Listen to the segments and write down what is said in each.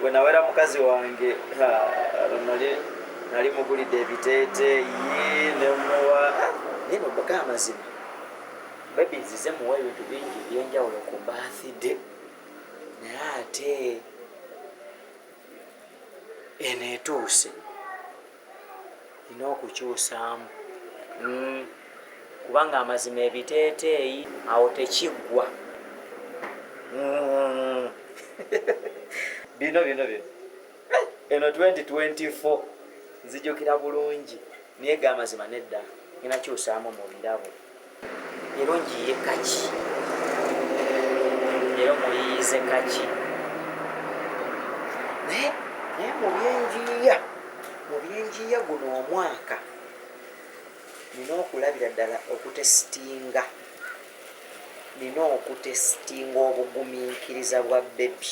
bwe nawera mukazi wange luno nali mugulidde ebiteeteeyi nemuwa naye nobaga amazima bebi nzize muwa ebintu bingi ebyenjawulo ku bathide naye ate eno etuuse nina okukyusaamu mm. kubanga amazima ebiteeteeyi awo tekiggwa mm. bino bino bino eh, eno 2024 nzijukira bulungi naye ga amazima nedda ninakyusaamu mu birabo Leero njiye kaki? Leero muyiyize kaki? Naye naye mu byenjiiya mu byenjiiya guno omwaka nina okulabira ddala okutesitinga nina okutesitinga obugumiikiriza bwa bebi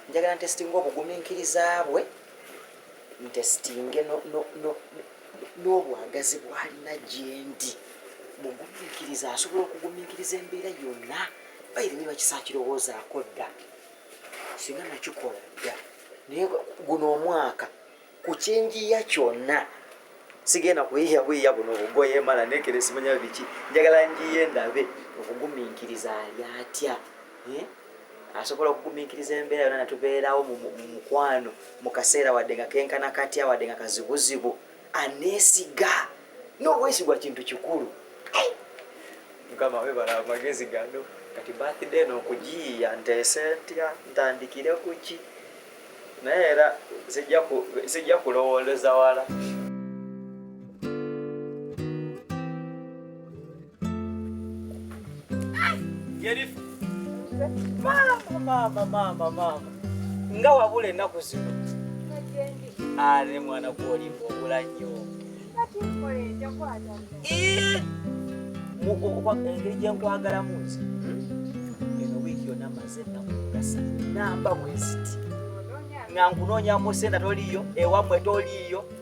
njagala ntesitinga obugumiikiriza bwe ntesitinge n'obwagazi bw'alina gyendi mugumiikiriza asobola okugumiikiriza embeera yonna bayire niba kisakirowoozaako dda singa nakikola dda naye guno omwaka ku kinjiya kyonna sigenda kuyiya buyiya buno obugoye mala nekeresimanya biki njagala njiye ndabe okugumiikiriza ali atya eh? asobola okugumiikiriza embeera yona natubeerawo mu mukwano mu kaseera wadde nga kenkana katya wadde nga kazibuzibu aneesiga n'obwesigwa kintu kikulu mukama webala amagezi gano kati bathday nokugiyiya nteese ntya ntandikire kuki naye era sijja kulowooleza wala Jerifu. Mama, mama, mama, mama. Nga wabula ennaku zino. Ale mwana gwolimba obula nnyo. Engeri gye nkwagalamu nze. Hmm? Eno wiiki yonna maze ennaku ngasa namba mweziti. Nga nkunoonyamu sente toliiyo, ewammwe toliiyo.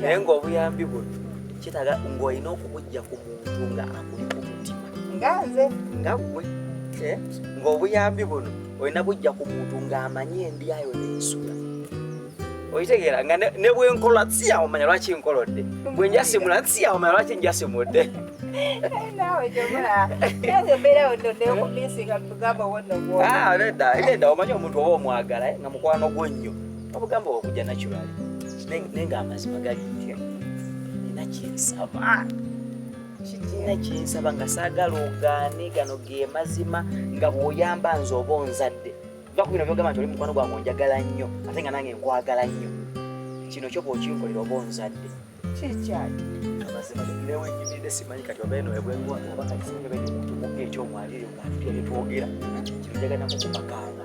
naye ng'obuyambi buno kitaaga ng'olina okubujja ku muntu nga akuli ku mutima nga nze nga gwe eh? ng'obuyambi buno olina bujja ku muntu ng'amanyi endyayo n'ensula oitegeera nga ne bwenkola siyawo manya lwaki nkolodde bwe njasimula siyawo manya lwaki njasimudde ah, nedda omanyi omuntu oba omwagala eh, nga mukwano gwo nnyo obugamba okuja natural nenga amazima gali nti nina kyensaba kikina kyensaba nga saagala ogaane gano ge mazima nga bwoyamba nze oba onzadde va ku bino byogamba nti oli mukwano gwange onjagala nnyo ate nga nange nkwagala nnyo kino kyo bwokinkolera oba onzadde kyekyali amazima newenyimidde simanyi kati oba eno ebwengwa oba kati singa bene omuntu mukka ekyomwalire nga ntitwogera kino njagala nakukupakaana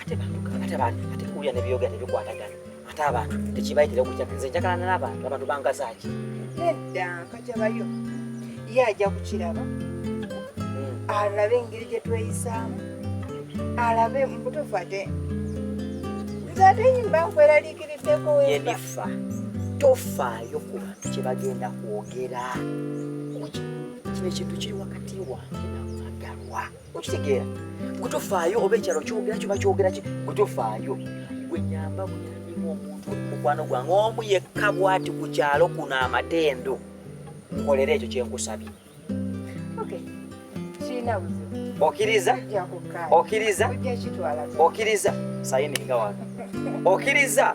ate bantu ate bantu ate kuya ne biyoga ne bikwatagana ate abantu tekibayitira okujja nze njakalana n'abantu abantu bangazaaki nedda nkajabayo ye ajja kukiraba hmm. alabe engeri gye tweyisaamu alabe mubutuufu ate nze ate yimba nkweraliikiriddeko yenifa tofaayo ku bantu kye bagenda kwogera kino ekintu kiri wakati wange nawagalwa okitegeera gwe tofaayo oba ekyalo kyogera kyoba kyogera ki gwe tofaayo gwe nyamba buyambimu omuntu mukwano gwange omu yekka bwati ku kyalo kuno amatendo nkolera ekyo kyenkusabye okiriza okiriza okiriza sayininga wa okiriza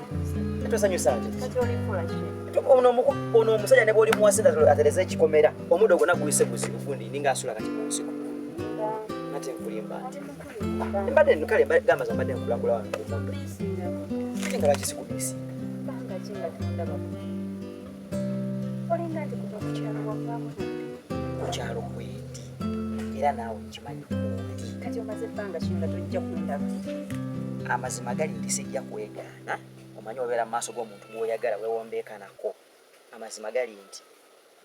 tosanyusa nze ono omusajja ne bwoli muwasa atereza ekikomera omudo gwona guyise guzibu gundi ninga asula kati munsiko nate nkulimba mbadde no kale gamba za mbadde nkulakula wange omudo kati nga lwaki sikubisi olinga nti kuva ku kyalo wavaamu ku kyalo kwendi era naawe nkimanyi kundi kati omaze ebbanga ki nga tojja kundaba amazima gali nti sijja kwegaana omanyi obeera mu maaso g'omuntu gw'oyagala wewombeeka nako amazima gali nti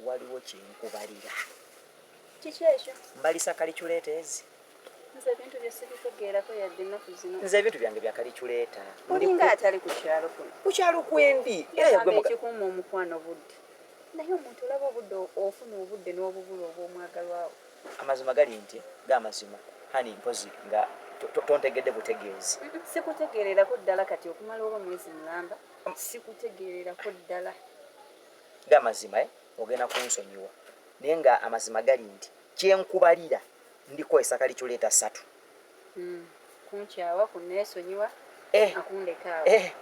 waliwo kyenkubalira kiki ekyo mbalisa kaliculeteezi nze ebintu bye sibitegeerako yadde ennaku zino nze ebintu byange bya kaliculeeta olinga atali ku kyalo kuno ku kyalo kwendi era yagwe muka ekikuuma omukwano budde naye omuntu olaba obudde ofuna obudde n'obubula obw'omwagalwawo amazima gali nti g'amazima hani mpozi nga tontegedde butegeezi sikutegeererako ddala kati okumala oba mwezi mulamba mm. sikutegeererako ddala g'amazima eh, ogenda kunsonyiwa naye nga amazima gali nti kyenkubalira ndiko esaka liculeeta ssatu mm. kunkyawa kuneesonyiwa eh. akundekaawo eh.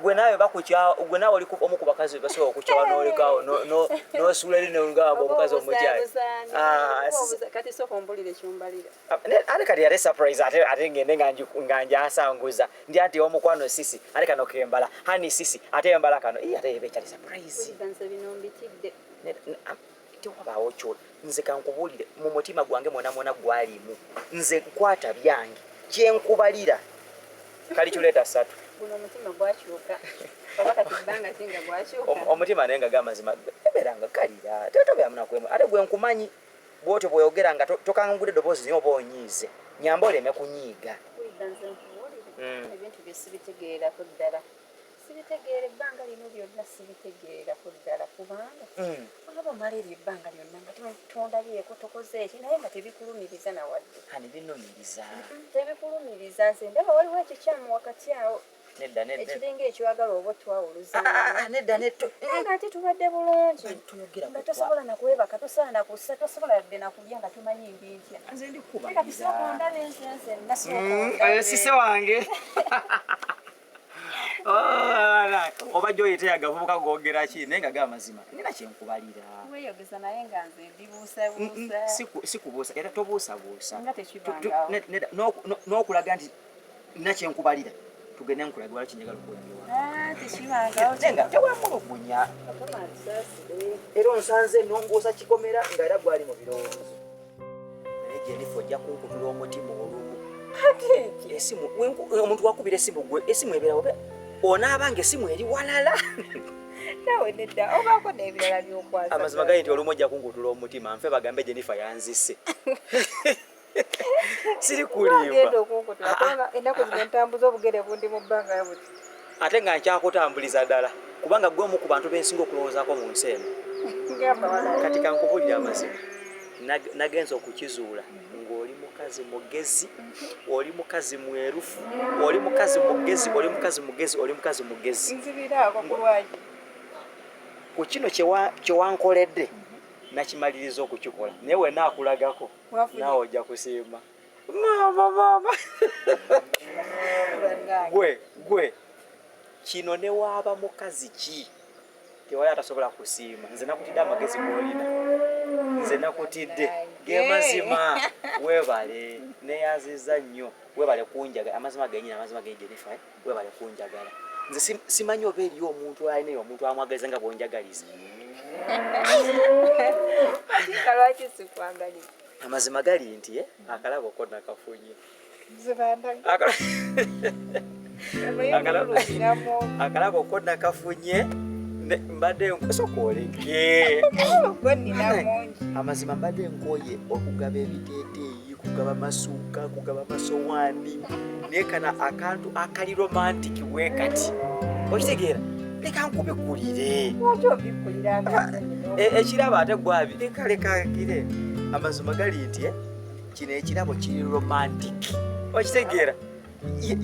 gwe naawe bakukyawa gwe naawe oli omu ku bakazi bebasobola okukyawa nolekaawo nosuula eri nongamba omukazi omukyali ah, ate kati yali surprise ate ngende nga njasanguza ndi ati omukwano sisi ate kano kembala hani sisi ate embala kano ate ebekyali surprise tewabaawo kyo nze kankubuulire mu mutima gwange mwona mwona gwalimu nze nkwata byange kyenkubalira kali kireeta satu omutima naye nga gamazima eberanga kalira tetobeamunakwemu ate gwenkumanyi bwotyo bwoyogera nga tokangula eddoboozi nyo oba onyiize nyamba oleme kunyiiga hmm. ebintu byesibitegeerako ddala sibitegeera ebbanga lino lyonna sibitegeera ku ddala kubanga mm. olaba omala eryo ebbanga lyonna nga tondabyeko tokoze eki naye nga tebikulumiriza nawadde binumiriza tebikulumiriza nze ndaba waliwo ekikyamu wakati awo nedda nedda ekiringa ekiwagala oba twawuluza ah, ah, ah, nedda nedda nga ate tubadde bulungi nga tosobola na kwebaka tosobola na kussa tosobola yadde na kulya nga tumanyi ndi ntya nze ndi kuba kati sokondaba ensense nasokondaba mm, sise wange oba gyoyita yagavubuka gogera ki naye nga gamazima nina kyenkubalira sikubuusa era tobuusabuusa n'okulaga nti nina kyenkubalira tugende nkulaga wala kinjagala okuwuliriwatewamulugunya ah, era onsanze nonguusa kikomera nga era gwali mu birowoozo Jennifer ojja kunkutula omutima olumu. Esimu omuntu wakubira esimu gwe esimu ebeera obe onaaba ng'esimu eri walala. Nawe nedda obaako n'ebirala by'okwaza. Amazima gali nti olumu ojja kunkutula omutima nfe bagambe Jennifer yanzise. Siri kulimba. Ogenda okunkutula ah, ah. kubanga ennaku zino ntambuza obugere bundi mu bbanga buti. ate nga nkyakutambuliza dala kubanga gwe omu ku bantu bensinga okulowoozako mu nsi eno kati kankubulira amazima nagenza okukizuula ng'oli mukazi mugezi oli mukazi mwerufu oli mukazi mugezi oli mukazi mugezi oli mukazi mugezi ku kino kyewankoledde nakimaliriza okukikola naye wenakulagako naawe ojja kusiima gwe gwe kino newaaba mukazi ki tewali atasobola kusiima nze nakutidde amagezi golina nze nakutidde gemazima webale neyaziza nnyo webale kunjagala amazima genyini amazima genyinifa eh? webale kunjagala nze simanyi oba eriyo omuntu alina eyo omuntu amwagaliza nga bwonjagaliza Amazima gali nti eh, akalabo ko nakafunye akalabo ko nakafunye mbadde nkusokolege amazima mbadde nkoye okugaba ebiteeteeyi kugaba masuuka kugaba masowaani naye kana akantu akali romantiki wekati okitegeera leka nkubikulire e, ekirabo ate gwabi leka leka gire amazima gali nti eh, kino ekirabo kiri romantic okitegeera eh,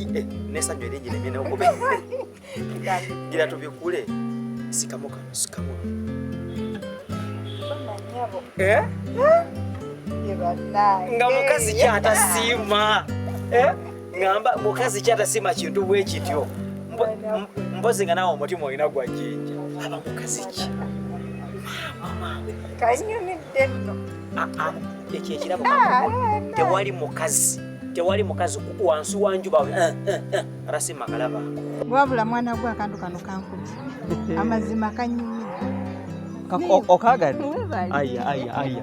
nesanyu eringi nemyenokubi gira tubikule sikamu kano sikamu eh? nga mukazi kyatasiima ŋamba mukazi kyatasima kintu bwe kityo mpozi nga nawe omutima olina gwa jinja aba mukazi ki ah, ah, ekyo ekirabo ah, tewali mukazi tewali mukazi wansi wanjuba eh, eh, eh, rasima kalaba wabula mwana gwe akantu kano kankubi amazima kanyumira okagadde aya aya aya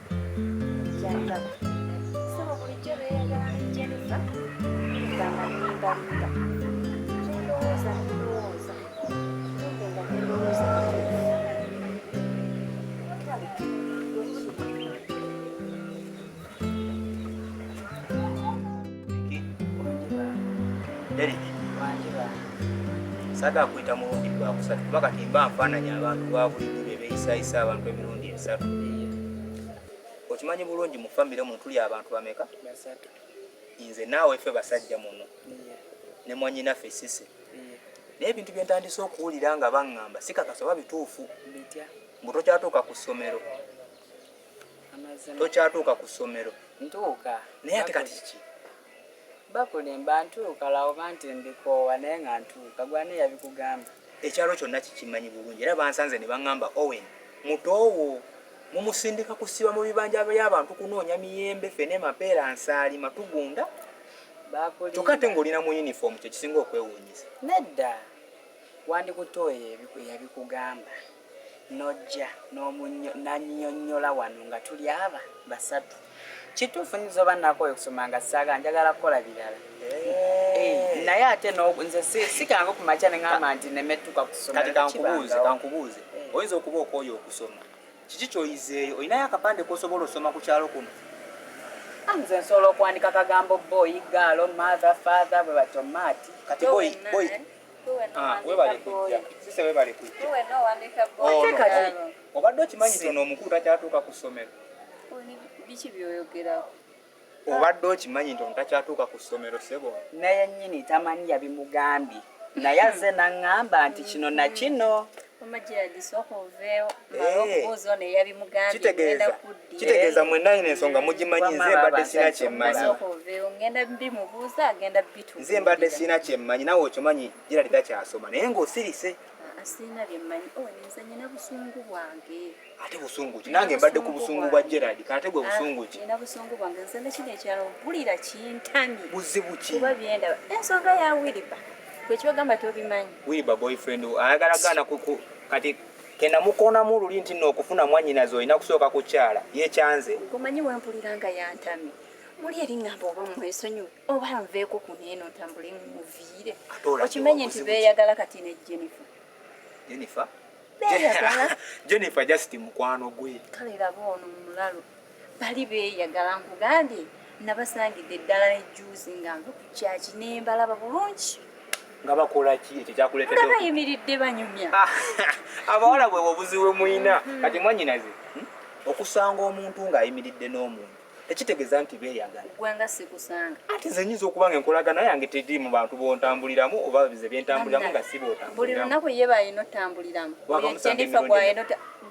saga kuyita mulundi gwakusatu kuba kati mba nfaananya abantu babulijjo bebeyisaayisa abantu emirundi okimanyi bulungi mu famire muno tuli abantu bameka nze naawe ffe basajja muno ne mwanyinaffe sisi naye ebintu bye ntandise okuwulira nga baŋŋamba sikakasa oba bituufu mbu tokyatuuka ku ssomero tokyatuuka ku ssomero naye ate kati kiki Bakulimba ntuuka la oba nti mbikoowa naye nga ntuuka gwe ani yabikugamba. Ekyalo kyonna kikimanyi bulungi era bansanze ne bangamba Owen muto wo mumusindika kusiba mu bibanja by'abantu kunoonya miyembe, ffene, mapeera, nsaalima tugunda kyokka ate Bakulimba. ng'oli na mu yunifoomu kye kisinga okwewuunyisa. Nedda. Wandikutte oyo eyabi- eyabikugamba. nojja nannyonnyola wano nga tuli aba basatu. Kituufu nyiza oba nakooye okusoma nga saaga njagala kukola birala eh, naye ate nze sikange ku makya ne ŋamba nti nemettuka kusoma. Kati kankubuuze kankubuuze, eh. oyinza okuba okooye okusoma, kiki kyoyizeeyo? Olinayo akapande kosobola osoma ku kyalo kuno? Ah, nze nsobola okuwandika kagambo boyi gaalo matha fatha bwe batyo maati kati boyi Ah, webale kujja sise webale kujja obadde okimanyi tono omukulu takyatuuka ku ssomero biki byoyogerako obadde okimanyi nti omutakyatuuka ku ssomero sebo naye nyini tamanyi yabimugambye naye azze naŋŋamba nti kino na kino kitegeeza eh. mwenna ino ensonga mugimanyi nze mbadde sina kyemmanyi nze mbadde sina kyemmanyi nawe okimanyi gerald takyasoma naye ng'osirise oh, ate busungu ki nange mbadde ku busungu bwa gerald kate gwe ah, busungu ki buzibu ki ensonga ya wiriba gwe kyogamba tobimanyi wiriba boyfriend ayagala gaana kati kenamukonamu luli nti no okufuna mwanyinaze olina kusooka kukyala yekyanze omanyi wempulira nga yantami muli eringamba oba mwesonyiwe oba nveeko ku neeno ntambule muviire okimenye nti beeyagala kati ne jennifer jennifer jennifer just mukwano gwe kale laba ono mulalu bali beeyagala nkugambye nabasangidde eddala ne juuzi nga nva ku kyaki ne mbalaba bulungi nga bakola ki ekyo kyakuleetedde nga bayimiridde banyumya ah, abawala bwe obuzi we muyina mm-hmm. kati mwanyinaze hmm? okusanga omuntu ng'ayimiridde n'omuntu tekitegeeza nti beeyagala gwanga sikusanga ate nze nyinza okuba nga enkolagana yange tedi mu bantu bontambuliramu oba bize byentambuliramu nga si bootambuliramu buli lunaku ye bayina otambuliramu jennifer gwayina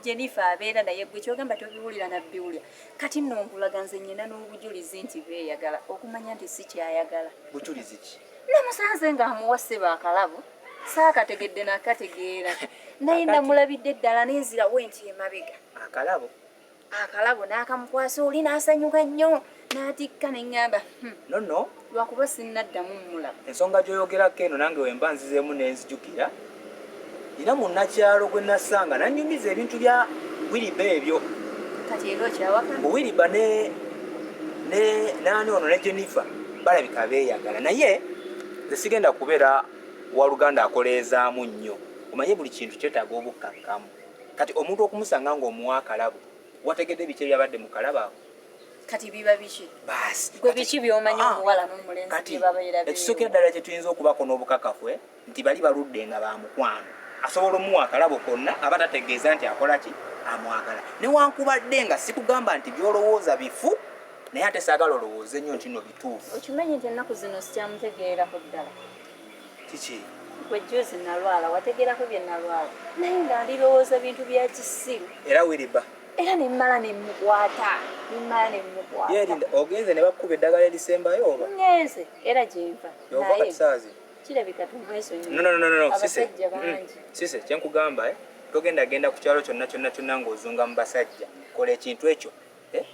Jennifer abeera naye gwe kyogamba tobiwulira nabbiwulira kati nno nkulaga nze nyina n'obujulizi nti beeyagala okumanya nti si kyayagala bujulizi ki namusanze nga amuwa ssebo akalabo saakategedde nakategeera naye namulabidde eddala nenzirawo enti emabega akalabo akalabo n'akamukwasa oli n'asanyuka nnyo n'atikka ne ŋŋamba hmm, nonno lwakuba sinnaddamu mmulaba. Ensonga gy'oyogerako eno nange wemba nzizeemu ne nzijukira. Nnina munnakyalo gwe nasanga nannyumiza ebintu bya Wiriba ebyo. Kati era okyawaka? Mbu Wiriba ne ne naani ono ne Jennifer balabika beeyagala naye nze sigenda kubeera waluganda akoleezaamu nnyo omanye buli kintu kyetaaga obukkakkamu kati omuntu okumusanga ng'omuwa akalabo wategedde biki ebyabadde mu kalabo ako kati biba biki gwe biki byomanyi ah, omuwala n'omulenzi byebabeera ekisooka eddala kye tuyinza okubako n'obukakafu eh, nti bali baludde nga ba mukwano asobola omuwa akalabo konna aba tategeeza nti akola ki amwagala newankubadde nga sikugamba nti byolowooza bifu naye ate saagala olowooze nnyo nti no bituufu okimanyi nti ennaku zino sikyamutegeerako ddala kiki gwe juzi nalwala wategeerako bye nalwala naye nga alirowooza bintu bya kisiru era wiriba era ne mmala ne mmukwata ne mmala ne mmukwata yeerinda ogenze ne bakuba eddagala erisembayo oba ngenze era gye nva yova kati saazi kirabika tumwesonyiabasajja mm. bangi sise kye nkugamba eh? togenda genda ku kyalo kyonna kyonna kyonna ng'ozunga mu basajja kola ekintu ekyo eh?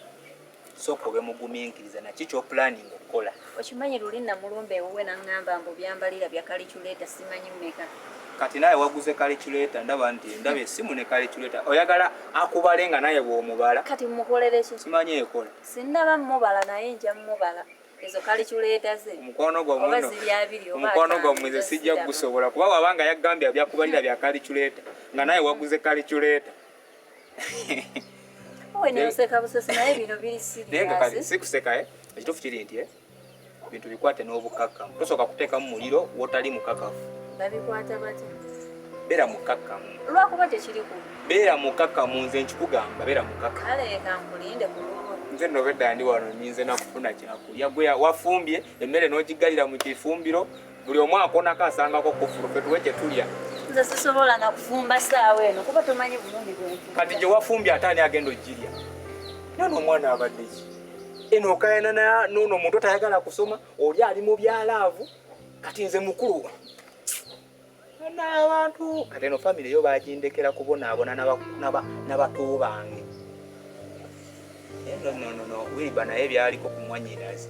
sooka obe muguminkiriza naki kyopulaninga okukola okimanyi luli namulumba ewuwe naŋŋamba mbu byambalira bya kaliculeta simanyi mmeka kati naye waguze kaliculeta ndaba nti ndaba esimu ne kaliculeta oyagala akubale nga naye bwomubala kati mukolereki simanyi ekola sinaba mubala naye nja mubala ezo kaliculeta ze omukwano gwaomukwano gwammwe ze sijja gusobola kuba wabanga yaggambye byakubalira bya kaliculeta nga naye waguze kaliculeta sikuseka eh? ekituufu kiri nti eh? bintu bikwate n'obukakkamu tosooka kuteekamu muliro wotali mukakafu beera mukakkamu lwakuba tekiriku beera mukakkamu nze nkikugamba beera mukakkamu nze nobedda ndi wano nyinze nakufuna kyakulya gwe wafumbye emmere n'ogiggalira mu kifumbiro buli omu akonako asangako kufulu fetuwe kyetulya nze sisobola nakufumba saawa eno kuba tomanyi bulungi bwenfu kati gyewafumbye ate ani agenda ogirya nana omwana abaddeki eno okayana nono omuntu atayagala kusoma oli ali mu byalaavu kati nze mukulu n'abantu kati eno famire yo bagindekera kubonaabona nabato bange eh, nononono wiriba naye byaliko kumwanyirazi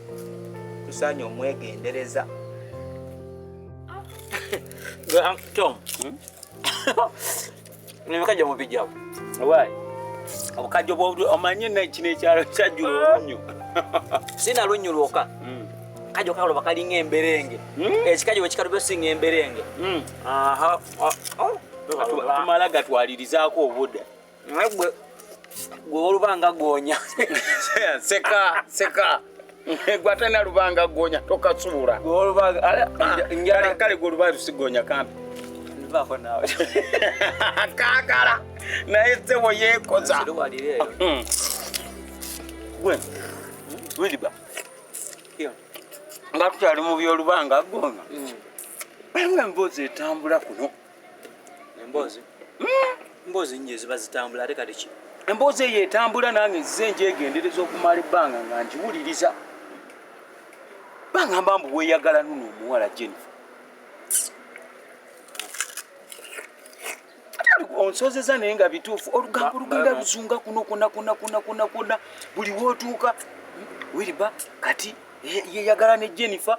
tusaanye omwegendereza ah. tom hmm? Nebikajja mu bijja. Why? Obukajja bwo omanye na kino ekyalo kyajjula ah. olunyo. Sina lunyo lwoka. Mm. Kajo kalo bakali ngemberenge. Mm. Ekikajo ekikalu byo singa emberenge. Mm. Aha. Ah, oh. Tumala gatwalirizaako obuda. Ngwe gwe olubanga gonya. Seka, seka. gwate na lubanga gonya toka tsura go lubanga ale ah, njara kale go lubanga sigonya kambi ndivako nawe kakala na etse wo yekoza hmm. gwe wili ba yo ngakutali mu byo lubanga gonya hmm. Mwe mboze tambula kuno emboozi emboozi hmm? nyo eziba zitambula ate kati ki emboozi eyo etambula nange nzize njegendereza okumala ebbanga nga ngiwuliriza bangamba mbu weyagala nuno omuwala jennifer onsozeza naye nga bituufu olugambo lugenda luzunga kuno kuna kuna kuna kuna kuna buli wotuuka wiriba kati yeyagala ne jennifer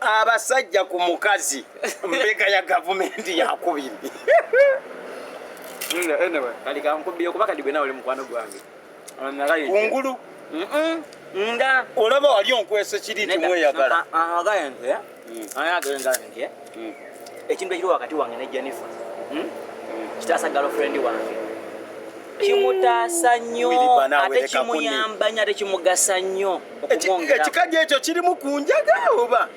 abasajja ku mukazi mbega ya gavumenti yakubiri kungulu nga olaba wali onkwesa kiri timweyagala ekintu ekiri wakati wange ne jennifer hmm? Hmm. kitaasa galofrendi wange kimutaasa nnyo ate kimuyamba nnyo ate kimugasa nnyo ekikajjo ekyo kirimu ku njaga oba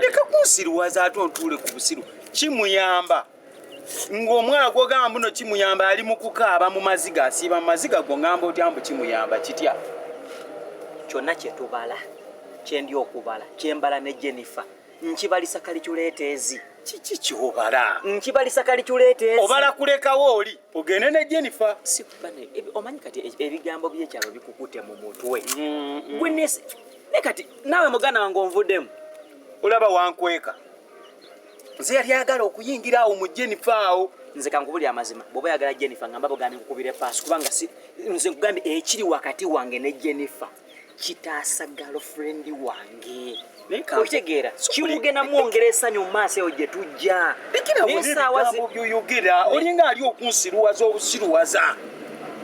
leka kunsiruwaza ate ontuule ku busiru kimuyamba ng'omwana gwogamba mbuno kimuyamba ali mu kukaaba mu maziga asiiba mu maziga go ngamba otya mbu kimuyamba kitya kyonna kyetubala kyendi okubala kyembala ne jennifer nkibalisa kaliculeeteezi kiki kyobala nkibalisa kaliculeeteezi obala kulekawo oli ogende ne Jennifer omanyi kati e- ebigambo byekyalo bikukute mu mutwe gwinesi ne kati nawe muganda wange onvuddemu olaba wankweka nze yali ayagala okuyingira awo mu Jennifer awo nze kankubulira amazima bwoba yagala Jennifer ngamba bogambye nkukubire paasi kubanga nze nkugambye ekiri wakati wange ne Jennifer kitaasa girlfriend wange okitegeera kiwugenda mwongera esanyu mu maaso eyo gye tujja byoyogera olinga ali okunsiruwaza obusiruwaza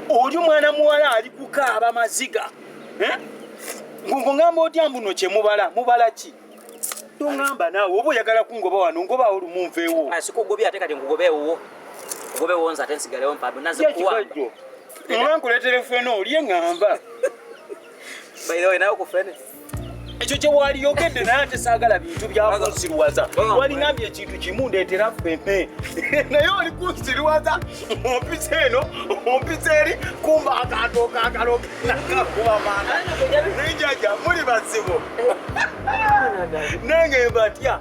oli omwana muwala ali kukaaba maziga eh? ngungamba otya mbuno kyemubala mubala ki tongamba naawe oba oyagala kungoba wano ngobawo lumunveewo ah, sikugobya ate kati nkugobeewo ngobeewo nze ate nsigalewo mpado naze kuwamba Oba nkuleetere fene olye ŋŋamba. By the way, nawe ku fene. ekyo kye waaliyogedde naye ate saagala bintu byakunsiruwaza walingambye ekintu kimu ndeetera fene naye oli kunsiruwaza ompisa eno ompisa eri kumba akantu okakaloke nakakuba maana naye jaja muli bazibu nange mbatya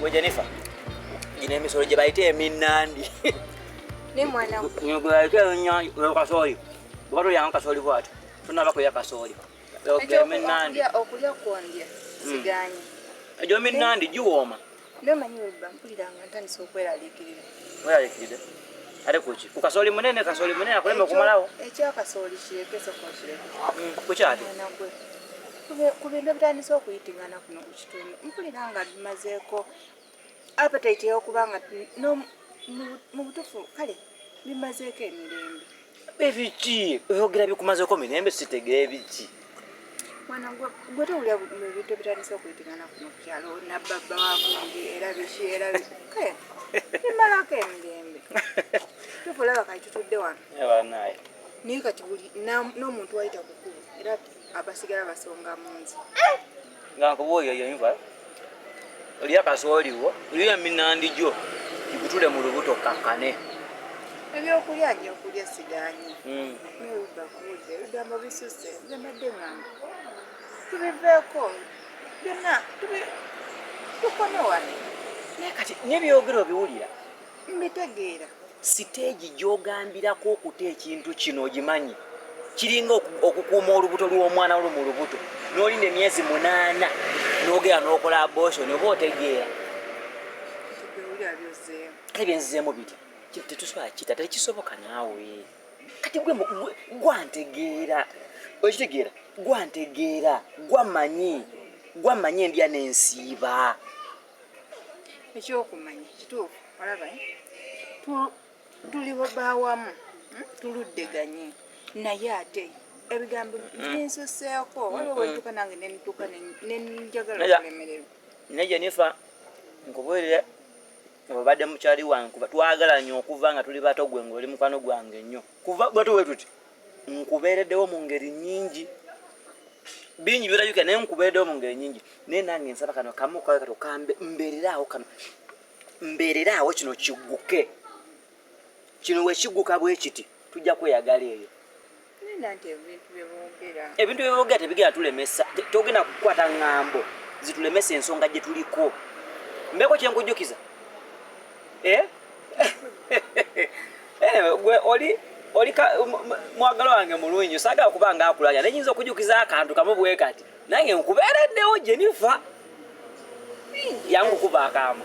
Gwe Jennifer, gino emisolo gye bayita eminnandi. Ne mwana we. Gino gwe bayita eminnandi oyo kasooli. Bw'oba tolyanga kasooli bw'ati, tonnaba kulya kasooli. Oyo gwe eminnandi. Okulya kwondya hmm. sigaanyi. Egyo eminnandi giwooma. Namanyi webba mpulira nga ntandise okweraliikirira. Weraliikirire? Ate kuki? Ku kasooli munene, kasooli munene akulema okumalawo. Ekya kasooli kireke sooka okireke. Mm, kuki ate? Mwana gwe. Kube- Ku bintu ebitandise okuyitingana kuno ku kitundu mpulira nga bimazeeko appetite y'okuba nga n'om- mu- mu butuufu kale bimazeeko emirembe. ebiki oyogera bikumazeko mirembe sitegera ebiki mwana gwe towulira mubintu ebitandise okwetegana kuno kukyalo nababba wagundi era biki era imalako emirembe tukulaba kati tutudde wano banaye naye kati buli n'omuntu wayita kukulu era abasigala basonga munzi nga nkubuulire yinva olya kasooliwo olya eminandi gyo gikutule mu lubuto kakkane ebyokulya nyo okulya sigaanyi hmm. naye ugakuudde ebigambo bisuse nze mbadde ngamba tubiveeko byonna tukome wano naye kati nebyogera obiwulira mbitegeera siteegi gyogambirako okuta ekintu kino ogimanyi kiringa okukuuma olubuto lw'omwana lu mu lubuto n'olinda emyezi munaana n'ogera n'okola abotion oba otegeera kale byenzizeemu biti tetusobola kita tekisoboka naawe kati gwe gwantegeera okitegeera gwantegeera gwamanyi gwamanyi endya nensiiba ekyokumanya kituufu olaba eh? tuli bawamu hmm? tuluddeganye naye ate ebigambo binsuseeko hmm. waliwo hmm. wentuka nange nentuka nenjagala okulemererwa naye jenifa nkubuulire obadde mukyali wange kuba twagala nyo okuva nga tuli bato gwe ngaoli mukwano gwange nnyo kuva bwatu wetuti nkubeereddewo mu ngeri nyingi bingi byolabika naye nkubeereddewo mu ngeri nyingi naye nange nsaba kano kamu kakati okambe mbeereraawo kano mbeereraawo kino kigguke kino wekigguka bwe kiti tujja kweyagala eyo ebintu byeboogera tebigenda tulemesa togenda kukwata ŋŋambo zitulemesa ensonga gye tuliko mbeeko kyenkujjukiza eh? Eh, gwe oli oli um, um, mwagala wange mulungi nyo sagala kuba nga akulanya naye nyinza okujukiza akantu kamu bwe kati nange nkubeereddewo gye nifa yangu kuba akaama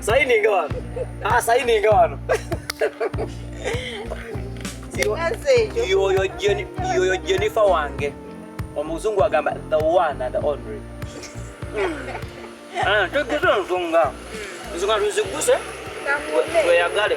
Saini ngawano. Ah, saini ngawano. Yoyo Jenny, yoyo Jennifer wange. Omuzungu agamba the one and only. Ah, tugeze nzunga. Nzunga tuziguse. Tweyagale.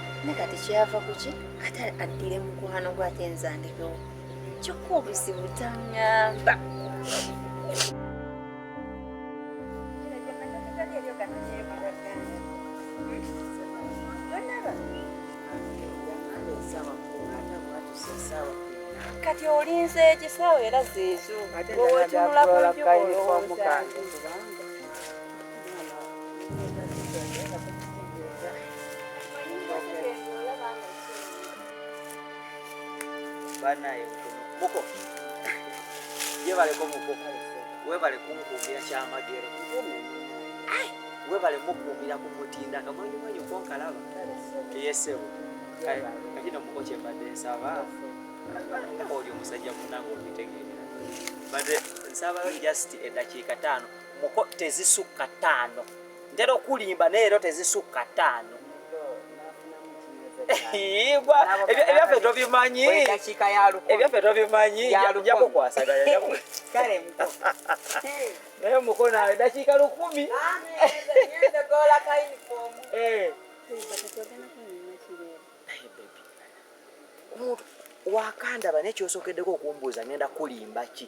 ne kati kyava kuki ate addire mukwano gwe ate nzandibewo kyokka obuzibu tangamba kati olinze ekisawo era zeezo owotunula ku njuba olowooza banaye muko yebaleko muko webale kunkuumira kyamagero webale mukuumira ku mutindo akamanyumanyi okonkalaba eyesebo kakino muko kyembadde nsaba oli omusajja munange obitegeera mbadde nsaba just edakiika taano muko tezisukka ttaano ntera okulimba naye leero tezisukka ttaano igwa ebyaffe tobimanyi ebyaffe tobimanyi jakukwasagaya naye mukona edakiika lukumi wakandaba naye kyosokedeko okumbuuza ngenda kulimba ki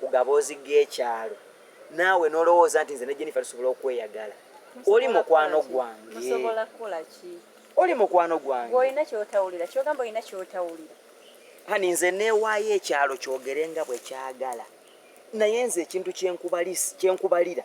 ku gaboozi g'ekyalo naawe n'olowooza nti nze ne Jennifer tusobola okweyagala oli mukwano gwange oli mukwano gwange olina kyotawulira kyogamba olina kyotawulira hani nze neewaayo ekyalo kyogere nga bwe kyagala naye nze ekintu kyenkubalira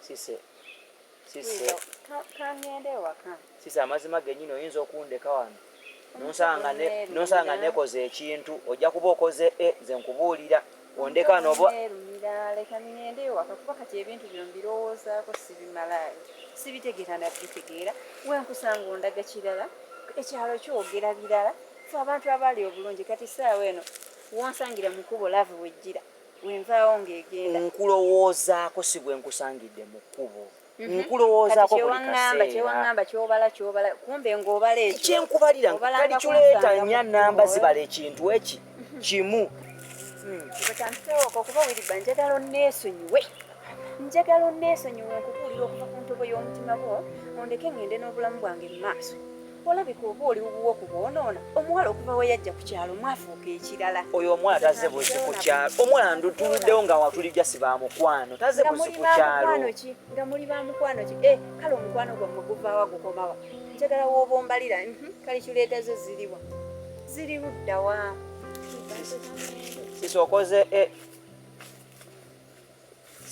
Sise. Sise. Kangende ewaka. Sise amazima genyini oyinza okundeka wano. Nonsanga ne nonsanga nekoze ekintu ojja kuba okoze e nze nkubuulira ondeka nobo. Leka ngende ewaka kuba kati ebintu bino mbirowoozaako sibimalaayo sibitegeera nabitegeera wenkusanga ondaga kirala ekyalo kyogera birala fe abantu abaali obulungi kati saawa eno wonsangira mukubo laavu wejjira wenvaawo ng'egenda nkulowoozaako si bwe nkusangidde mu kkubo mhm. nkulowoozaako kyewaŋamba kyobala kyobala kumbe ng'obala ekyo kyenkubalira kali kireeta nnya namba zibala ekintu eki mhm. kimu hmm. kyantutewooko kuba wiriba njagala onneesonyiwe njagala onneesonyiwe nkubuulira okuva ku ntobo y'omutima gwo ondeke ng'ende n'obulamu bwange mu maaso olabika oba oli wuwo ku bwonoona omuwala okuva we yajja ku kyalo mwafuuka ekirala oyo omwana taze buzi ku kyalo omwana ndutuluddewo nga watuli jasi ba mukwano taze buzi ku kyalo nga muli ba mukwano ki e eh, kale omukwano gwammwe guvaawa gukomawa njagala wooba ombalira mhm, kale kireeta zo ziriwa ziri luddawa sisi okoze eh,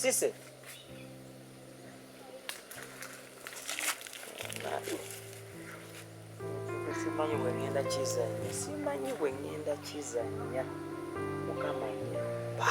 Cisse. Simanyi bwe ngenda kizannya, simanyi bwe ngenda kizannya. Mukama nyamba.